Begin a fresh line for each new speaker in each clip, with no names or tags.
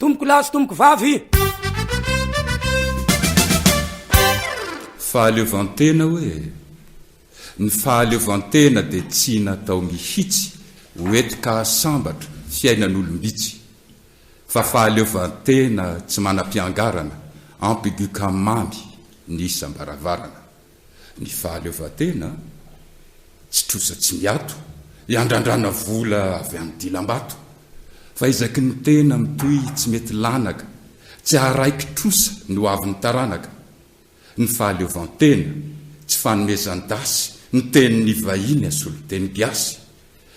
Tompoko lahy sy tompoko vavy.
Fahaleovantena hoe? Ny fahaleovantena dia tsy natao mihitsy ho etika sambatra fiainan'olom-bitsy, fa fahaleovantena tsy manam-piangarana, ampy gukam mamy ny isam-baravarana. ny fahaleovantena, tsy trosa tsy miato, iandrandrana vola avy amin'ny dilam-bato, fa ezaky ny tena mitohy tsy mety lanaka, tsy haraiky trosa ny ho avin'ny taranaka, ny fahaleovantena, tsy fanomezan-dasy ny tenin'ny vahiny asolo teny gasy,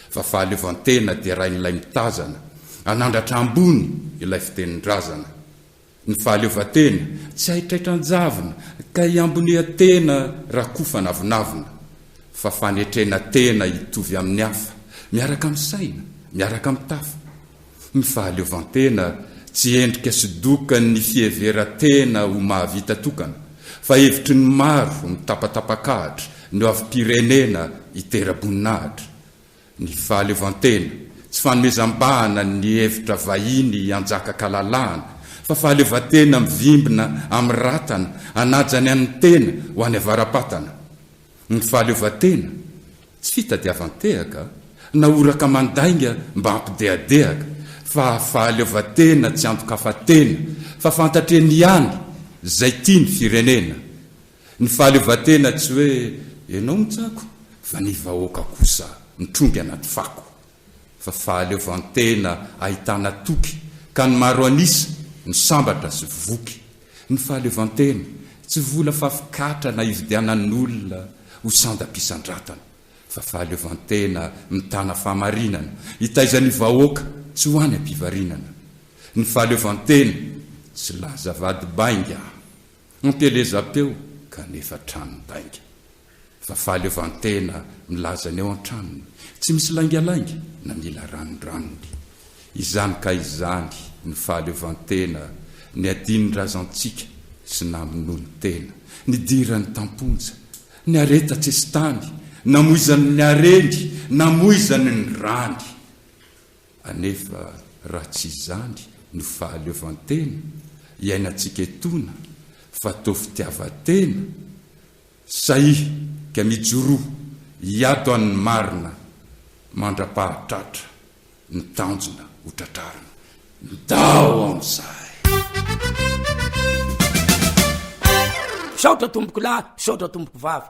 fa fahaleovantena derain'ilay mitazana, hanandratra ambony ilay fitenin-drazana. Ny fahaleovantena tsy haitraitra an-javona ka hiamboniha tena rakofa anavonavona, fa fanetrena tena hitovy amin'ny hafa, miaraka amin'ny saina, miaraka amin'ny tafa. Ny fahaleovantena tsy endrika sy dokan'ny fiheveran-tena ho mahavita tokana, fa hevitry ny maro mitapatapakahatra ny hoavim-pirenena hitera-boninahitra. Ny fahaleovantena, tsy fanomezam-bahana ny hevitra vahiny hianjaka-kalalahana, fa fahaleovantena mivimbina amin'ny ratana hanaja ny an'ny tena ho any avara-patana. Ny fahaleovantena, tsy fitadiavan-tehaka, na horaka mandainga mba hampidehadehaka, fa fahaleovantena tsy andoka-fa-tena, fa fantatr'eny ihany izay tia ny firenena, Ny fahaleovantena tsy hoe ianao mitsako fa ny vahoaka kosa mitrongy anaty fako. Fa fahaleovantena ahitana toky ka ny maro an'isa no sambatra sy voky. Ny fahaleovantena tsy vola fafikatrana ividianan'olona ho sandam-pisandratana fa fahaleovantena mitana fahamarinana hitaiza ny vahoaka tsy ho any am-pivarinana. Ny fahaleovantena tsy laza vady bainga Anteleza teo kanefa tranon-dainga. Fa fahaleovantena milaza ny ao an-tranony. Tsy misy laingalainga na mila ranondranony. Izany ka izany no fahaleovantena niadian'ny razantsika sy namonoany tena, nidirany tam-ponja, ny harena tatsesitany, namoizany ny hareny, namoizany ny rany. Anefa raha tsy izany no fahaleovantena iainantsika etoana fa toa fitiavan-tena, saiika mijoroa hiato an'ny marina mandra-pahatratra ny tanjona ho tratrarina. Ndao amin'izay!
Misaotra tompokolahy, misaotra tompoko vavy.